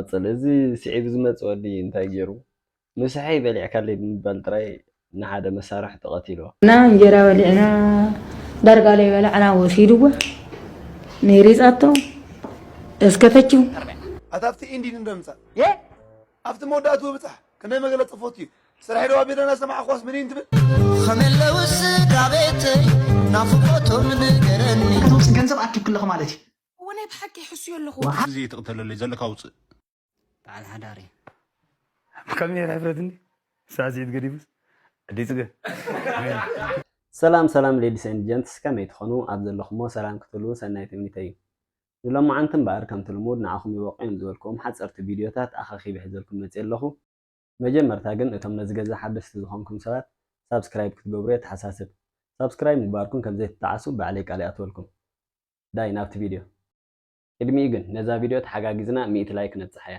ቀጽል እዚ ስዒቡ ዝመጽእ ወዲ እንታይ ጌሩ ምሳሐይ በሊዕካለይ ብምባል ጥራይ ንሓደ መሳርሕቱ ቀቲልዎ። እና እንጀራ በሊዕና ዳርጋ ለይበላዕና ወሲድዎ ንሪጻቶ እስከ ፈችው። ኣታ ኣብቲ ኢንዲ ንዶ ንምጻእ ኣብቲ መወዳእትኡ እብጻሕ ክንደይ መገለ ጽፎት እዩ ስርሐይ ዶ ኣቢለ ናሰማዕክዋስ ምኒን ትብል። ኸመይ ኣለዉ ስድራቤተይ ናፍቆቶም ንገረኒ። እቶም ሲ ገንዘብ ኣኪብክለኺ ማለት እዩ። እወ ናይ ብሓቂ ይሕሱዮ ኣለኹ። ወሓ ግዜ ትቕተለለይ ዘለካ ውጽእ። በዓል ሓዳር እየ። ከም ኔር ሕፍረት እንዲ ሳዕስዒት ገዲፉስ ኣደይ ጽገ ሜሪ። ሰላም ሰላም ሌዲስ ኤንድ ጀንትስ ከመይ ትኾኑ ኣብ ዘለኹሞ ሰላም ክትህልዉ ሰናይ ትምኒተይ እዩ ንሎማዓንቲ እምበኣር ከምቲ ልሙድ ንዓኹም ይበቕዑ እዮም ዝበልክዎም ሓጸርቲ ቪድዮታት ኣኸኺበ ሒዘልኩም መጺየ ኣለኹ መጀመርታ ግን እቶም ነዚ ገዛ ሓደስቲ ዝኾንኩም ሰባት ሳብስክራይብ ክትገብሩ የተሓሳስብ ሳብስክራይብ ምግባርኩም ከምዘይትጠዓሱ ባዕለይ ቃል ይኣትወልኩም ዳይ ናብቲ ቪድዮ ቅድሚኡ ግን ነዛ ቪድዮ ተሓጋጊዝና ሚእቲ ላይክ ነብጽሓያ።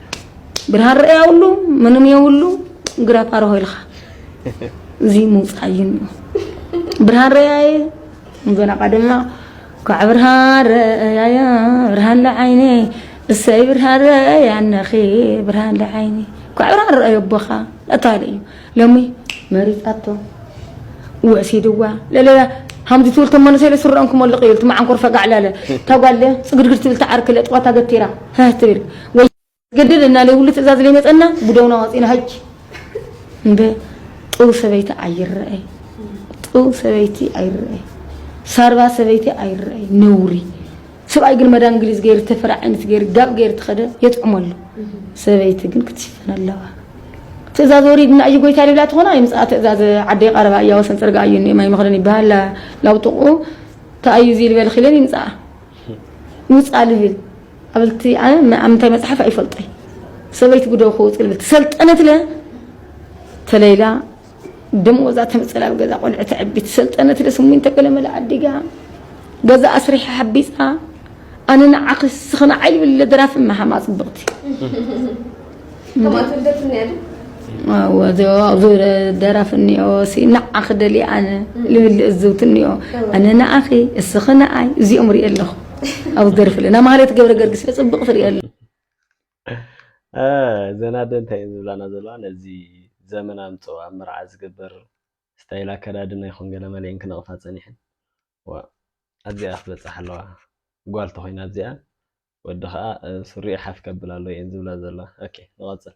ብርሃን ርኣያውሉ ምንም የውሉ ግራ ፓርሆ ኢልኻ እዚ ምውፃእ እዩ እኒኦ ብርሃን ርኣያየ ንዘላቃ ድማ ኳዕ ብርሃን ርኣያየ ብርሃን ለዓይነ እሰይ ብርሃን ርኣያ እነኺ ብርሃን ለዓይነ ኳዕ ብርሃን ርኣዮ ኣቦኻ እታለ እዩ ሎሚ መሪጻቶ ወሲድዋ ለለለ ሃምዚ ትብል ቶም መንእሰይ ስረኦም ክመልቕ እዩ ትመዓንኮር ፈጋዕ ለለ እታ ጓል ጽግድግድ ትብል ትዓርክ ለጥዋታ ገቲራ ህህ ትብል ወይ ገድል እና ለይብሉ ትእዛዝ ለይመጸና ብደውና ዋጺና ሀጅ እንደ ጥው ሰበይቲ ኣይረኣይ ጥው ሰበይቲ ኣይረኣይ ሳርባ ሰበይቲ ኣይረኣይ ነውሪ ስብኣይ ግን መዳ እንግሊዝ ገይሩ ተፍሪ ዓይነት ገይሩ ጋብ ገይሩ ትኸደ የጥዕሞ ኣሎ ሰበይቲ ግን ክትሽፈን ኣለዋ ትእዛዝ ወሪድና እዩ ጎይታ ሊብላ ትኾና ይምፅኣ ትእዛዝ ዓደይ ቀረባ እያ ወሰን ፅርግኣ እዩ እኒኦ ማይ መኽደን ይበሃል ላውጥቑ ተኣዩ እዚ ልበል ኺለን ይምፅኣ ውፃ ልብል ኣብልቲ ኣብ ምንታይ መፅሓፍ ኣይፈልጦይ ሰበይቲ ጉደው ክውፅ ልብል ትሰልጠነት ለ ተለይላ ደመወዛ ተምፅል ኣብ ገዛ ቆልዑ ተዕቢ ትሰልጠነ ትደ ስሚንቶ ገለመለ ኣዲጋ ገዛ ኣስሪሐ ሓቢፃ ኣነ ንዓኺ ስኺ ንዓይ ልብል ለደራፊ መሃማ ፅብቕቲ ደራፊ እኒኦ ንዓኺ ደልየ ኣነ ልብል እዝውቲ እኒኦ ኣነ ንዓኺ እስኺ ንዓይ እዚኦም ሪኦ ኣለኹ ኣብ ደርፊ ለና ማለት ገብረ ገርግስ ፅብቕ ትሪኦ እዘን ኣደ እንታይ እየን ዝብላና ዘለዋ ነዚ ዘመን ኣምፀኦ ኣብ መርዓ ዝግበር ስታይል ኣከዳድና ይኹን ገለ መሊኤን ክነቕፋ ፀኒሐን ዋእ ኣብዚኣ ክበፅሓ ኣለዋ ጓል ተኾይና ኣብዚኣ ወዲ ከዓ ሱሪኡ ሓፍ ከብል ኣለዎ እየን ዝብላ ዘለዋ ኦኬ ንቐፅል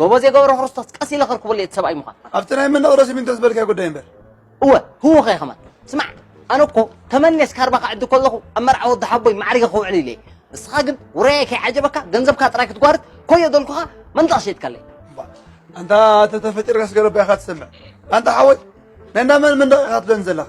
ጎበዜ ገብረክርስቶስ ቀስ ኢለ ከርክበሉ እየ እቲ ሰብኣይ ምዃን ኣብቲ ናይ መነቕሮ ሲሚንቶ ዝበልካዮ ጉዳይ እምበር እወ ህወ ከ ከማን ስማዕ ኣነ እኮ ተመኔስ ካርባ ክዕዲ ከለኹ ኣብ መርዓ ወዲ ሓቦይ ማዕሪገ ክውዕል ኢለ ንስኻ ግን ውራየ ከይዓጀበካ ገንዘብካ ጥራይ ክትጓርት ኮዮ ደልኩኻ መንደቕ ሸይጥካለይ ኣንታ ተተፈጢርካ ስገረባ ኢኻ ትሰምዕ ኣንታ ሓወይ ናይ እንዳ መን መንደቕ ኢኻ ትደን ዘለኻ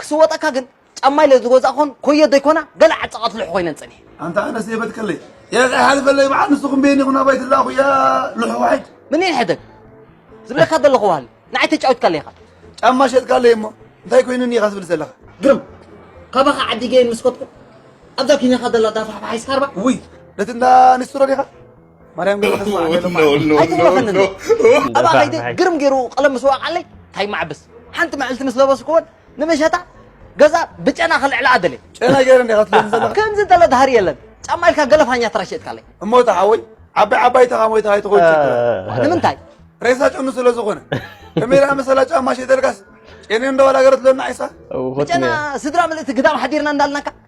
ክስወጠካ ግን ጫማይ ለዝጎዛእኮን ኮዮ ዘይኮና ገለ ዓጸቃት ልሑ ኮይነን ጸኒሐ። ኣንታ ኣነስ የበትከለይ ኤእ ኣይሓልፈለይ በዓል ንስኩም ቤኒ ኩን ኣባይ ትላኣኩ ያእ ልሑ ዋሒድ። ምኒን ሕደግ ዝብለካ ዘለኩ ዋሃሊ ንዓይ ተጫዊትካለይ ኢካ። ጫማ ሸጥካለይ እሞ እንታይ ኮይኑኒ ኢካ ትብል ዘለካ። ግርም ካባካ ዓዲ ገይን ምስ ከድኩ ኣብዛ ኪንያካ ዘላ ዳፋሕፋሓይ ስካርባ ውይ ነቲ እንዳ ኒስትሮ ዲካ። ማርያም ግን ተስፋ ኣለማ ኣይትፍረኸንን ኣብኣ ከይደ ግርም ገይሩ ቀለም ምስ ወቃዓለይ እንታይ ማዕብስ ሓንቲ መዕልቲ ምስ ለበስኩዎን ንመሸጣ ገዛ ብጨና ክልዕላ ኣደለ ጨና ገይረ እንዲኻ ትለኒ ዘለኻ ከምዚ እንተለ ድሃሪ የለን ጫማ ኢልካ ገለፋኛ ተራሸጥካለይ እሞ እቲ ሓወይ ዓባይ ዓባይ ተኻ ሞይታ ኣይትኾን ንምንታይ ሬሳ ጨኑ ስለ ዝኾነ ከመይ ደኣ መሰላ ጫማ ሸይተልካስ ጨኒ እንደዋላ ገረትለና ዓይሳ ብጨና ስድራ ምልእቲ ግዳም ሓዲርና እንዳልናካ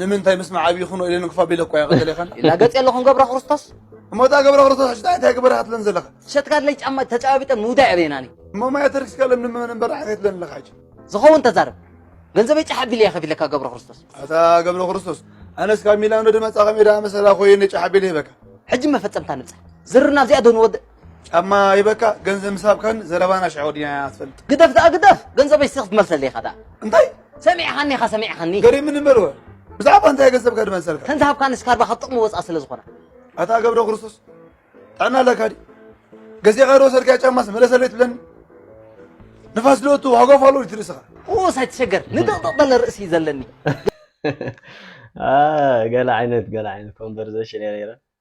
ንምንታይ ምስ መዓብ ይኹኖ ኢለን እንክፋ ቢለ እኳ ይቐተሌኸን ኢላ ገጽ የለኹን ገብረ ክርስቶስ እሞ እታ ገብረ ክርስቶስ ሕጂ እንታይ ግበራ ክትለን ዘለኻ ሸትካድለይ ጫማ ተጨባቢጠ ምውዳእ የበየናኒ እሞ ማያ ተርክስካ ለም ንምመን እምበር ሓገት ለን ኣለኻ ሕጂ ዝኸውን ተዛረብ ገንዘበይ ጫሕ ኣቢለ እየ ከፊለካ ገብረ ክርስቶስ ኣታ ገብረ ክርስቶስ ኣነስ ካብ ሚላኖ ድመጻኻ ሜዳ መሰላ ኮይነ ጫሕ ኣቢለ ይበካ ሕጂ መፈጸምታ ንብጻሕ ዝርና ኣብዚኣ ዶ ንወድእ ጫማ ሂበካ ገንዘብ ምስ ሃብካኒ ዘረባና ሽዑ ወዲና ኢና ትፈልጥ። ግደፍ ደኣ ግደፍ ገንዘበይ እስቲ ክትመልሰለይ ኢኻ ደኣ። እንታይ? ሰሚዕኻኒ ኢኻ ሰሚዕኻኒ። ገሪምኒ እምበልወ ብዛዕባ እንታይ ገንዘብካ ድመልሰልካ? ከምዚ ሃብካኒ ስካርባ ካብ ጥቕሚ ወጻእ ስለ ዝኾነ። ኣታ ገብረ ክርስቶስ ጥዕና ኣለካ ድዩ? ገዚእኻ ዶ ወሰድካዮ ጫማስ መለሰለይ ትብለኒ? ንፋስ ዶ እቱ ሃጓፍ ኣሎ ድዩ ትርእስኻ? ኡስ ኣይትሸገር ንድቕድቕ በለ ርእሲ እዩ ዘለኒ። ገለ ዓይነት ገለ ዓይነት ኮንቨርሴሽን እያ ነይራ።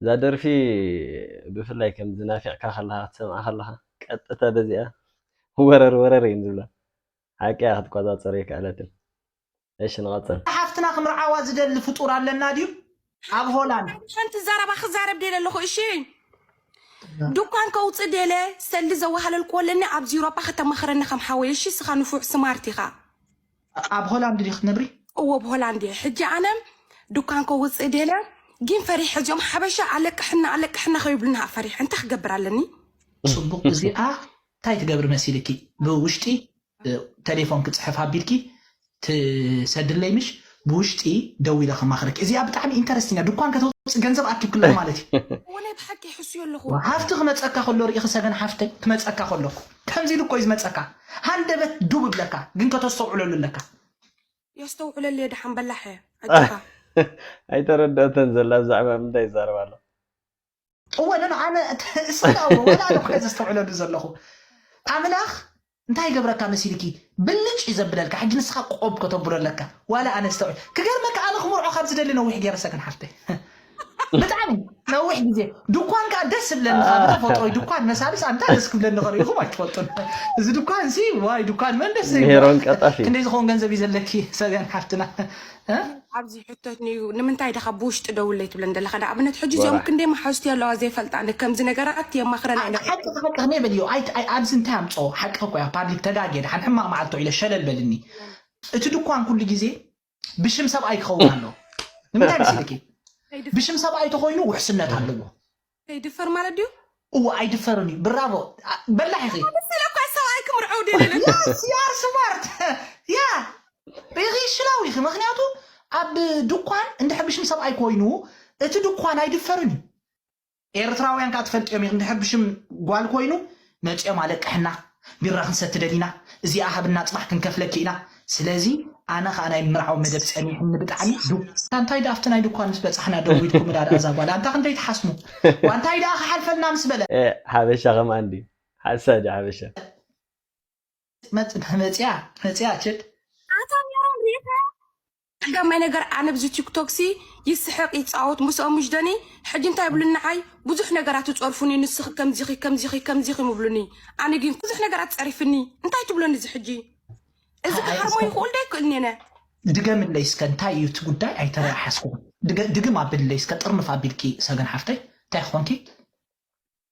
እዛ ደርፊ ብፍላይ ከምዚ ናፊቕካ ከለኻ ክትሰምዓ ከለኻ ቀጥታ በዚኣ ወረር ወረር እየን ዝብላ ሓቂ እያ ክትቆጻጸር ኣይከኣለትን እሺ ንቐጽል ሓፍትና ክምርዓዋ ዝደሊ ፍጡር ኣለና ድዩ ኣብ ሆላንድ ሓንቲ ዘረባ ክዛረብ ደለ ኣለኹ እሺ ድኳን ከውፅእ ደለ ሰልዲ ዘዋሃለልክዎ ኣለኒ ኣብዚ ዩሮጳ ከተማኽረኒ ከም ሓወይ እሺ እስኻ ንፉዕ ስማርት ኢኻ ኣብ ሆላንድ ዲኺ ትነብሪ? እወ ኣብ ሆላንድ እየ ሕጂ ኣነ ዱካን ከውጽእ ደልያ ጊን ፈሪሐ እዚኦም ሓበሻ ኣለቅሕና ኣለቅሕና ከይብሉኒ ሃእ ፈሪሐ እንታይ ክገብር ኣለኒ። ጽቡቅ እዚኣ ታይ ትገብሪ መሲልኪ ብውሽጢ ተሌፎን ክጽሕፍ ኣቢልኪ ትሰድለይ ምሽ ብውሽጢ ደዊለ ከማክረኪ እዚኣ ብጣዕሚ ኢንተረስቲንግ እያ ዱኳን ከተውጽእ ገንዘብ ኣኪብኪ ኣለኩ ማለት እዩ። እወ ናይ ብሓቂ ይሕስዮ ኣለኩ። ሃፍቲ ክመጸካ ከሎ ሪኢኺ ሰገን ሓፍተይ ክመጸካ ከለኩ። ከምዚ ኢሉ እኮዩ ዝመጸካ ሃንደበት ዱብ እብለካ ግን ከተስተውዕለሉ ኣለካ። የስተውዕለልየ ደሓን በላሕ ኣጆኻ። ኣይተረድኦቶን ዘላ ብዛዕባ ምንታይ ይዛረብ ኣሎ። እወ ን ኣነ እስክኣ እወ ወላ ኣነ እኮየ ዘስተውዕለሉ ዘለኹ ኣምላኽ እንታይ ይገብረካ መሲልኪ ብልጭ እዩ ዘብለልካ ሕጂ ንስኻ ቆብ ከተብሎ ኣለካ ዋላ ኣነ ዝተውዕል ክገርመካ ኣነ ክምርዖ ካብ ዝደሊ ነዊሕ ገይረሰ ግን ሓፍተይ ብጣዕሚ ነዊሕ ግዜ ድኳን ከዓ ደስ ዝብለኒ ካብ ተፈጥሮ ድኳን መሳልስ ኣንታ ደስ ክብለኒ ከሪኢኹም ኣይትፈልጡን እዚ ድኳን እዚ ዋይ ድኳን መን ደስ ዘይብሎ ክንደይ ዝኸውን ገንዘብ እዩ ዘለኪ ሰብያን ሓፍትና ኣብዚ ሕቶት ንዩ ንምንታይ ደኻ ብውሽጢ ደውለይ ትብለን ዘለካ ንኣብነት ሕጂ እዚኦም ክንደይ መሓዝቲ ኣለዋ ዘይፈልጣ ከምዚ ነገራት የማኽረን ሓቂ ሓቂ ከመይ በልዮ ኣብዚ እንታይ ኣምፅኦ ሓቂ ኮያ ፓብሊክ ተጋጌ ድሓን ሕማቅ መዓልቶ ኢለ ሸለል በልኒ እቲ ድኳን ኩሉ ግዜ ብሽም ሰብኣይ ክኸውን ኣለዎ ንምንታይ መሲልኪ ብሽም ሰብኣይ ተኮይኑ ውሕስነት ኣለዎ ይድፈር ማለት ድዩ እዎ ኣይድፈርን እዩ ብራቮ በላሕ ኢኺ ስለኳ ሰብኣይ ክምርዐው ደለለ ያር ስማርት ያ ኢኺ ሽላው ኢኺ ምክንያቱ ኣብ ድኳን እንድሕር ብሽም ሰብኣይ ኮይኑ እቲ ድኳን ኣይድፈርን እዩ ኤርትራውያን ከኣ ትፈልጥዮም ኢኽ እንድሕር ብሽም ጓል ኮይኑ መጽዮም ኣለቅሕና ቢራ ክንሰቲ ደሊና እዚኣ ሃብና ጽባሕ ክንከፍለኪ ኢና ስለዚ ኣነ ከኣ ናይ ምምርዓው መደብ ጸኒሑኒ ብጣዕሚ ዱብ ኣንታይ ደኣ ኣብቲ ናይ ድኳን ምስ በጻሕና ደዊልኩምዳ ደኣ እዛ ጓል ኣንታ ክንደይ ትሓስሙ ዋንታይ ደኣ ክሓልፈልና ምስ በለ። ኤእ ሓበሻ ከምኣ እንድዩ ሓሳድ ሓበሻ። መጽያ መጽያ ችድ። ኣታ ሜሮን ሪኢኻያ ቀዳማይ ነገር ኣነ ብዚ ቲክቶክ ሲ ይስሕቅ ይጻወት ምስኦም ምሽ ደኒ ሕጂ እንታይ ይብሉኒ ንዓይ ብዙሕ ነገራት ይጸርፉኒ ንስኺ ከምዚኺ ከምዚኺ ከምዚኺ ምብሉኒ ኣነ ግን ብዙሕ ነገራት ጸሪፍኒ እንታይ ትብሎኒ እዚ ሕጂ እዚ ሓ- ክሃርሞ እስከ ይኽእል ዶ ኣይክእልን እየ ነ ድገምለይ እስከ እንታይ እዩ እቲ ጉዳይ ኣይተረኣሓስኩን ድገ- ድግም ኣብልለይ እስከ ጥርንፍ ኣቢልኪ ሰገን ሓፍተይ እንታይ ኮንኪ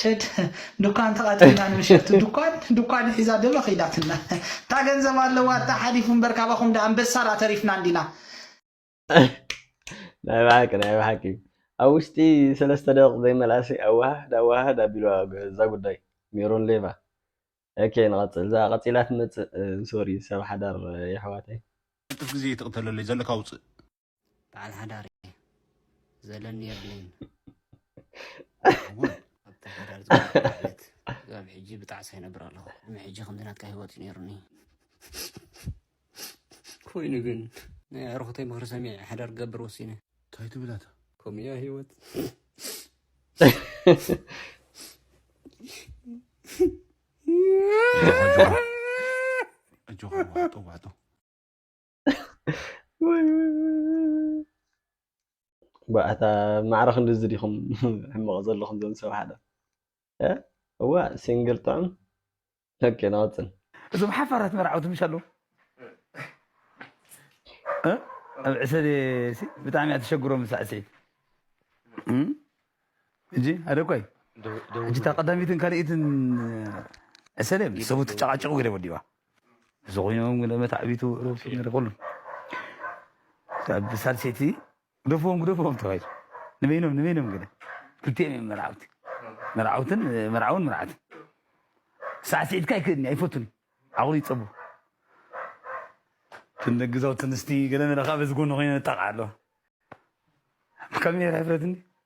ቸድ ዱካን ተቃጺልና ንምሸቱ ዱኳን ዱኳን ሒዛ ደመ ከይዳትና እታ ገንዘብ ኣለዋ እታ ሓሊፉ እምበር ካባኹም ዳ ኣንበሳ ዳ ተሪፍና እንዲና ናይ ብሓቂ ናይ ብሓቂ ኣብ ውሽጢ ሰለስተ ደቂቕ ዘይመልኣሲ ኣወሃህድ ኣወሃህድ ኣቢልዋ እዛ ጉዳይ ሜሮን ሌቫ ኦኬ ንቐጽል እዛ ቀጺላ ትመጽእ ሶሪ ሰብ ሓዳር የሕዋተይ ቅልጥፍ ግዜ ይትቕተለለይ ዘለካ ውጽእ በዓል ሓዳር እየ ዘለኒ የብለይን ኣብቲ ሓዳር ዝለት ካብ ሕጂ ብጣዕሳ ይነብር ኣለኹ ቅድሚ ሕጂ ከምዚ ናትካ ሂወት እዩ ነይሩኒ ኮይኑ ግን ናይ ኣዕርኹተይ ምኽሪ ሰሚዐ ሓዳር ክገብር ወሲነ እንታይ ትብላታ ከምኡ እያ ሂወት ኣጆኻ ዋጦ ዋጦ ባእታ ማዕረ ክንድዚ ዲኹም ሕመቕ ዘለኹም ዘም ሰብ ሓደ እዋ ሲንግል ጥዑም ኦኬ ናወፅን እዞም ሓፋራት መርዓውቲ ምሽ ኣለዉ ኣብ ዕሰለ ብጣዕሚ እያ ተሸግሮም ሳዕስዒት እጂ ኣደኳይ ሕጂ እታ ቀዳሚትን ካልኢትን ዕሰለ ሰቡ ትጨቃጨቁ ገለ ወዲባ እዚ ኮይኖም ግን መታዕቢቱ ርእሱ ነይሩ ኩሉ ካብ ሳልሰይቲ ግደፍዎም ግደፍዎም ተባሂሉ ንበይኖም ንበይኖም ግደ ክልቲኦም እዮም መርዓውቲ መርዓውትን መርዓውን መርዓትን ሳዕስዒትካ ኣይክእልኒ ኣይፈቱን ዓቕሉ ይፀቡ ትንግዛው ትንስቲ ገለ መለኻ በዚ ጎኒ ኮይነ ነጣቕዓ ኣለዋ ካሜራ ይፍረትኒ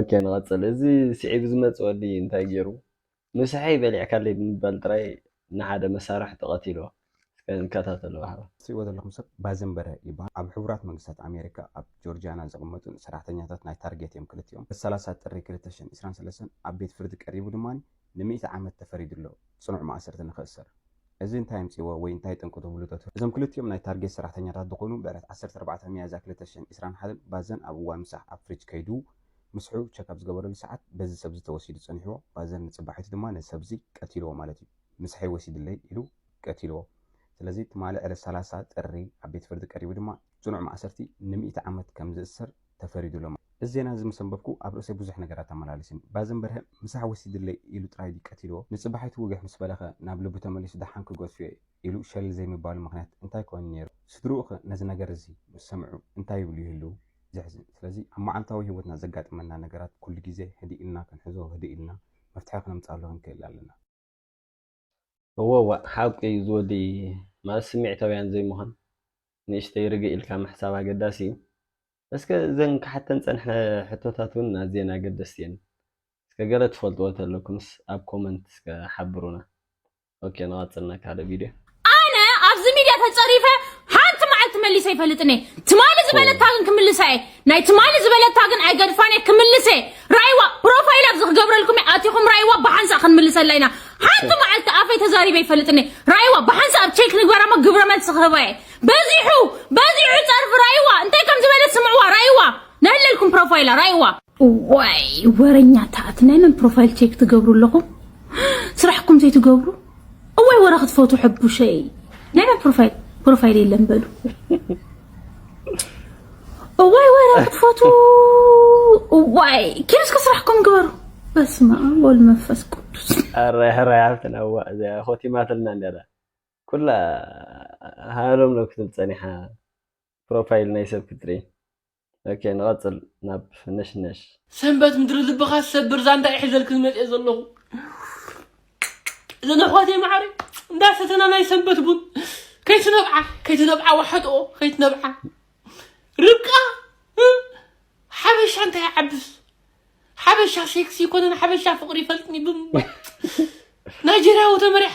ኦኬ ንቐፅል እዚ ስዒቡ ዝመፅእ ወዲ እንታይ ገይሩ ምሳሐይ በሊዕካለይ ብምባል ጥራይ ንሓደ መሳርሕቱ ቐቲልዎ እስከ ንከታተሎ ባህባ። እትሪእዎ ዘለኹም ሰብ ባዘን በርሀ ይበሃል። ኣብ ሕቡራት መንግስታት ኣሜሪካ ኣብ ጆርጂያና ዝቕመጡን ሰራሕተኛታት ናይ ታርጌት እዮም ክልቲኦም። ብ ሰላሳ ጥሪ ክልተ ሽሕን ዕስራን ሰለስተን ኣብ ቤት ፍርዲ ቀሪቡ ድማ ንሚእቲ ዓመት ተፈሪዱ'ሎ ጽኑዕ ማእሰርቲ ንኽእሰር። እዚ እንታይ ኣምጺእዎ ወይ እንታይ ጠንቁ ትብሉ ዶ ትብሉ? እዞም ክልቲኦም ናይ ታርጌት ሰራሕተኛታት ዝኾኑ ብዕለት ዓሰርተ ኣርባዕተ ሚያዝያ ክልተ ሽሕን ዕስራን ሓደን ባዘን ኣብ እዋን ምሳሕ ኣብ ፍሪጅ ከይዱ ምስሑ ቸክ ኣብ ዝገበረሉ ሰዓት በዚ ሰብዚ ተወሲዱ ጸኒሕዎ ባዘን ንጽባሒቱ ድማ ነዚ ሰብዚ ቀቲልዎ ማለት እዩ ምስሐይ ወሲድለይ ኢሉ ቀቲልዎ ስለዚ ትማሊ ዕለት ሰላሳ ጥሪ ኣብ ቤት ፍርዲ ቀሪቡ ድማ ጽኑዕ ማእሰርቲ ንሚእቲ ዓመት ከም ዝእሰር ተፈሪዱሎም። እዚ ዜና እዚ ምስ ኣንበብኩ ኣብ ርእሰይ ብዙሕ ነገራት ተመላሊስኒ። ባዘን በርሀ ምሳሕ ወሲድለይ ኢሉ ጥራይ ድዩ ቀቲልዎ? ንጽባሒቱ ውግሕ ምስ በለኸ ናብ ልቡ ተመሊሱ ደሓን ክገድፍዮ ኢሉ ሸለል ዘይምባሉ ምኽንያት እንታይ ኮይኑ ነይሩ? ስድርኡኸ ነዚ ነገር እዚ ምስ ሰምዑ እንታይ ይብሉ ይህልዉ? ዘሕዝን። ስለዚ ኣብ መዓልታዊ ህይወትና ዘጋጥመና ነገራት ኩሉ ግዜ ህድእ ኢልና ክንሕዞ ህድእ ኢልና መፍትሒ ክነምጽኣሉ ክንክእል ኣለና። እወ ዋእ ሓቁ እዩ ዝወዲ መቐስ ስሚዕታውያን ዘይምዃን ንእሽተይ ርግእ ኢልካ ምሕሳብ ኣገዳሲ እዩ እስከ እዘን ክሓተን ዝጸንሐ ሕቶታት ውን ኣዝየን ኣገደስቲ እየን እስከ ገለ ትፈልጥዎ ተለኩምስ ኣብ ኮመንት እስከ ሓብሩና ኦኬ ንቐጽል ናብ ካልእ ቪድዮ ኣነ ኣብዚ ሚድያ ተጸሪፈ ሓንቲ መዓልቲ መሊሰ ኣይፈልጥን እየ ትማሊ ዝበለካ ግን ክምልሳ እየ ናይ ትማሊ ዝበለታ ግን ኣይገድፋን እየ ክምልስ እየ ራይዋ ፕሮፋይል ኣብዚ ክገብረልኩም እየ ኣቲኹም ራይዋ ብሓንሳእ ክንምልሰላ ኢና ሓንቲ መዓልቲ ኣፈይ ተዛሪበ ይፈልጥኒ ራይዋ ብሓንሳእ ኣብ ቼክ ንግበራ እሞ ግብረ መልሲ ክህባ እየ በዚሑ በዚሑ ፀርፊ ራይዋ እንታይ ከም ዝበለት ስምዕዋ ራይዋ ነህለልኩም ፕሮፋይላ ራይዋ እዋይ ወረኛታት ናይ መን ፕሮፋይል ቼክ ትገብሩ ኣለኹም ስራሕኩም ዘይትገብሩ እዋይ ወረ ክትፈቱ ሕቡሸይ ናይ መን ፕሮፋይል ፕሮፋይል የለን በሉ እዋይ ወረ ክትፈቱ እዋይ ኪንስ ከስራሕኩም ግበሩ በስመ አብ ወልድ መንፈስ ቅዱስ ኧረ ሕራይ ሓፍትና እዋ እዚኣ ኮቲማትልና ነይራ ኩላ ሃሎም ዶ ክትብል ፀኒሓ ፕሮፋይል ናይ ሰብ ክትርኢ ኦኬ ንቐጽል ናብ ነሽነሽ። ሰንበት ምድሪ ልብኻ ዝሰብር ዛንታ እየ ሒዘልክን መፅየ ዘለኹ እዘን ኣሕዋተይ ማዕረ እንዳሰተና ናይ ሰንበት ቡን ከይትነብዓ ከይትነብዓ ዋሕጥኦ ከይትነብዓ ርብቃ እ፣ ሓበሻ እንታይ ይዓብስ ሓበሻ ሴክሲ ይኮነን ሓበሻ ፍቅሪ ይፈልጥኒ ብምባል ናይጀርያዊ ተመሪሓ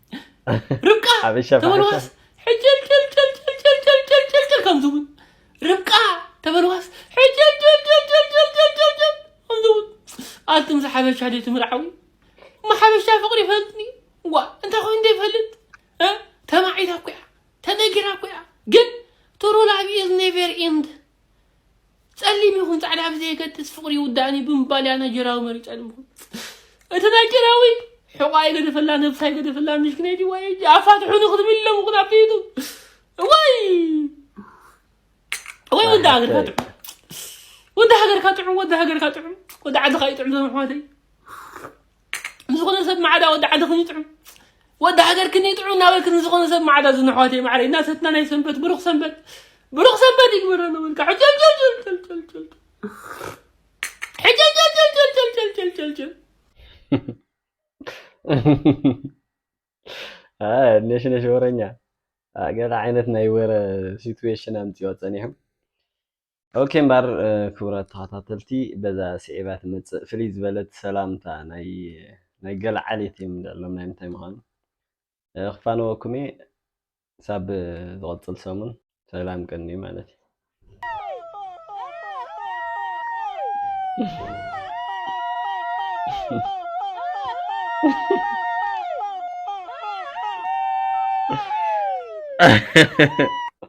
ርብቃ ተበልዋስ ሕጭልጭልጭልጭልጭልጭልጭልጭል ከም ዝብል ርብቃ ተበልዋስ ሕጭልጭልጭልጭልጭልጭልጭል ከም ዝብል ኣቱም ዝሓበሻ ድዩ ትምርዓዊ ማሓበሻ ፍቅሪ ይፈልጥ ድዩ ዋ እንታይ ኮይኑ ዘይፈልጥ እ? ተማዒታ እኮ እያ ተነጊራ እኮ እያ ግን ትሩ ላቭ ኢዝ ኔቨር ኢንድ ጸሊም ይኹን ጻዕዳ ብዘየገድስ ፍቕሪ ይውዳእኒ ብምባል እያ ናይጀርያዊ መሪጻ ንምኹን እቲ ናይጀርያዊ ሕቋ ይገደፈላ ነብሳ ይገደፈላ ምሽክነይቲ ወይ ኣፋትሑኒ ክትብል ኢሎም ኹን ኣብ ዩቱብ ወይ ወይ ወዲ ሃገርካ ጥዑም ወዲ ሃገርካ ጥዑም ወዲ ሃገርካ ጥዑም ወዲ ዓድኻ እዩ ጥዑም ዘመሕዋተይ ንዝኾነ ሰብ ማዕዳ ወዲ ዓድኽን ይጥዑም ወዲ ሃገርክን ይጥዑም እናበልክን ንዝኾነ ሰብ ማዕዳ ዝን ኣሕዋተይ ማዕረይ እናሰትና ናይ ሰንበት ብሩኽ ሰንበት ብሩኽ ሰንበት ይግበረሉ በልካ ሕጀልጀልጀልጀልጀልጀል ሕጀልጀልጀልጀልጀልጀልጀልጀል ነሽነሽ ወረኛ ገለ ዓይነት ናይ ወረ ሲትዌሽን ኣምፅኦ ፀኒሖም ኦኬ እምበር ክቡራት ተኸታተልቲ በዛ ስዒባ ትመጽእ ፍልይ ዝበለት ሰላምታ ናይ ገለ ዓሌት እዮም ልዕሎም ናይ ምንታይ ምዃኑ ክፋነወኩም እየ ሳብ ዝቐጽል ሰሙን ሰላም ቅኒ ማለት እዩ Ha ha ha ha.